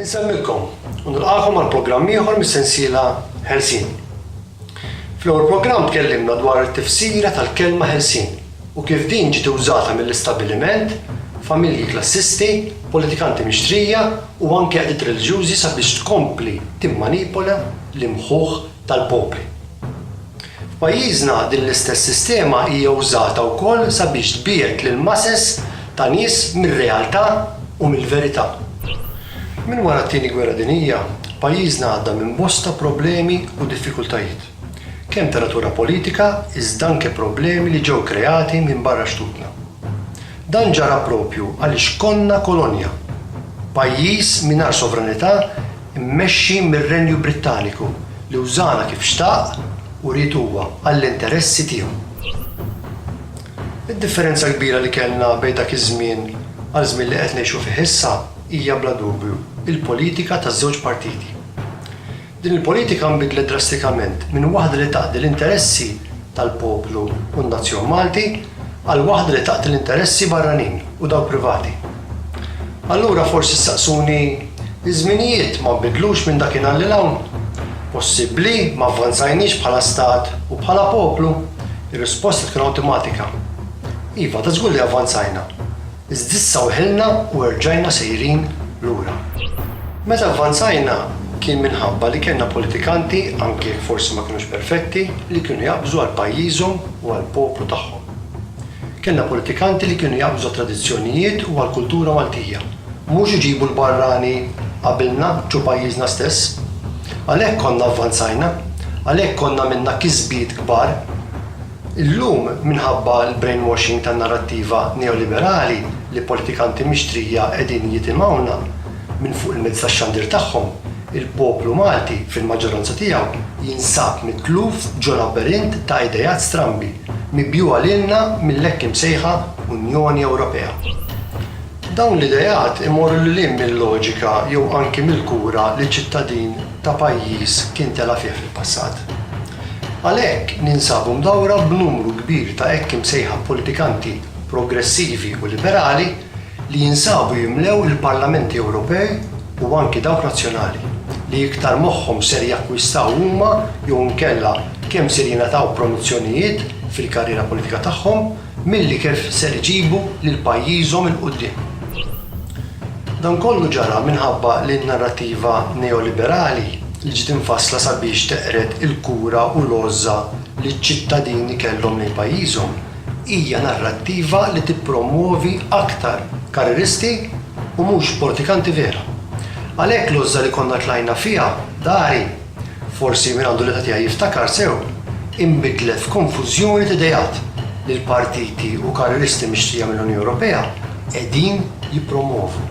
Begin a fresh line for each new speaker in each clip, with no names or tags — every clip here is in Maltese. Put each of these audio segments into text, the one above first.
Insellmilkom u nilqagħkom għal programm ieħor mis-sensiela Ħelsien. Fl-ewwel programm tkellimna dwar it-tifsira tal-kelma ħelsien u kif din ġiet użata mill-istabbiliment, familji klassisti, politikanti mixtrija u anke qdiet reliġjużi sabiex tkompli timmanipola l-imħuħ tal-popli. F'pajjiżna din l-istess sistema hija wżata wkoll sabiex tbiegħed lill-masses ta' nies mir-realtà u mill-verità. Minn wara t-Tieni Gwerra Dinjija, pajjiżna għadda minn bosta problemi u diffikultajiet, kemm ta' natura politika iżda anke problemi li ġew kreati minn barra xtutna. Dan ġara proprju għaliex konna kolonja, pajjiż mingħajr sovranità mmexxi mir-Renju Brittaniku li wżana kif xtaq u ried huwa għall-interessi tiegħu. Id-differenza kbira li kellna bejn dak iż-żmien għal żmien li qed ngħixu fih issa hija bla dubju l-politika taż-żewġ partiti. Din il-politika nbidlet drastikament minn waħda li taqdi l-interessi tal-poplu u n-nazzjon Malti għal waħda li taqdi l-interessi barranin u dawk privati. Allura forsi ssaqsuni, Iż-żminijiet ma nbidlux minn dakinhar lil hawn? Possibbli ma avvanzajniex bħala stat u bħala poplu? Ir-risposta tkun awtimatika, Iva, ta' żgur li avvanzajna, iżda issa weħilna u erġajna sejrin lura. Meta avvanzajna kien minħabba li kellna politikanti, anki jekk forsi ma kinux perfetti, li kienu jaqbżu għal pajjiżhom u għall-poplu tagħhom. Kellna politikanti li kienu jaqbżu għat-tradizzjonijiet u għall-kultura Maltija, mhux iġibu l-barrani qabilna ġo pajjiżna stess. Għalhekk konna avvanzajna, għalhekk konna għamilna kisbiet kbar. Illum, minħabba l-brainwashing tan-narrattiva neoliberali li politikanti mixtrija qegħdin jitimgħuna minn fuq il-mezzi tax-xandir tagħhom, Il-poplu Malti, fil-maġġoranza tiegħu, jinsab mitluf ġo labirint ta' ideat strambi, mibjugħa lilna mill-hekk imsejħa Unjoni Ewropea. Dawn l-ideat imorru lil hinn mil-loġika jew anki mill-kura li ċittadin ta' pajjiż kien tela' fih fil-passat. Għalhekk, ninsabu mdawwra b'numru kbir ta' hekk imsejħa politikanti progressivi u liberali, li jinsabu jimlew il-Parlamenti Ewropej u anki dawk nazzjonali, li iktar moħħhom ser jakkwistaw huma jew inkella kemm ser jingħataw promozzjonijiet fil-karriera politika tagħhom milli kif ser iġibu lil pajjiżhom 'il quddiem. Dan kollu ġara minħabba li n-narrattiva neoliberali li ġiet imfassla sabiex teqred il-kura u l-għożża li ċ-ċittadini kellhom lejn pajjiżhom, hija narrattiva li tippromwovi aktar karrieristi u mhux politikanti vera. Għalhekk l-għożża li konna tlajna fiha dari, forsi min għandu l-età tiegħi jiftakar sew, inbidlet f'konfużjoni t'idejat li l-partiti u karrieristi mixtrija mill-Unjoni Ewropea qegħdin jippromwovu.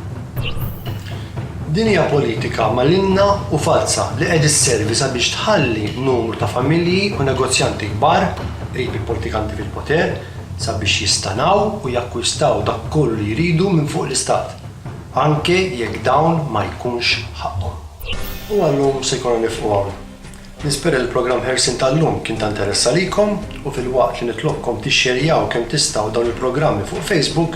Din hija politika malinna u falza li qed isservi sabiex tħalli numru ta' familji u negozjanti kbar qrib il-politikanti fil-poter sabiex jistanaw u jakkwistaw dak kollu li jridu minn fuq l-Istat, anke jekk dawn ma jkunx ħaqqhom. U għal-lum se jkollna nieqfu hawn. Nispera li l-programm Ħelsien tal-lum kien ta' interess għalikom u filwaqt li nitlobkom tixxerjaw kemm tistgħu dawn il-programmi fuq Facebook,